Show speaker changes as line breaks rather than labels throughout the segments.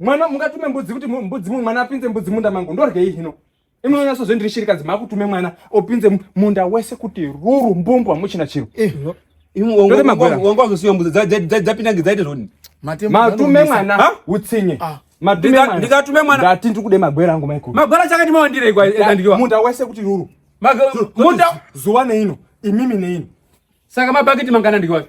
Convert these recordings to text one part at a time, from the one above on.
mwana mungatume mbudzi kuti mbudzi mwana apinze mbudzi munda mangu ndorgei hino imunonyaso zve ndiri shirikadzi makutume mwana opinze munda wese kuti ruru mbumbwa muchina chiro eh, wanga wazosiwa mbudzi dzapinda ngedzaite zvoni matume mwana utsinye ah. ndikatume mwana ndati ndiri kude magwera angu maikuru magwera chakati mawandire kwandikiwa munda wese kuti ruru munda zuva neino imimi neino saka mabhakiti mangana ndikiwacho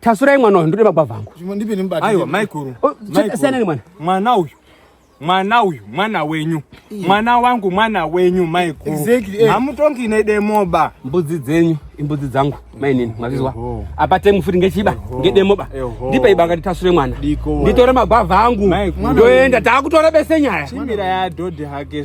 Tasurai mwana uyu ndode magwavha angu. Zvimwe ndipe nemubati. Aiwa maikuru. Oh, Siyana nemwana. Mwana uyu. Mwana uyu mwana wenyu. Mwana wangu mwana wenyu maikuru. Exactly. Eh. Hamutongi nedemoba. Mbudzi dzenyu imbudzi dzangu mainini mwazvizwa. Apa temu futi ngechiba ngedemoba. Ndipe iba ngati tasure mwana. Nditore magwavha angu. Ndoenda takutora bese nyaya. Chimira ya dhodhi hake.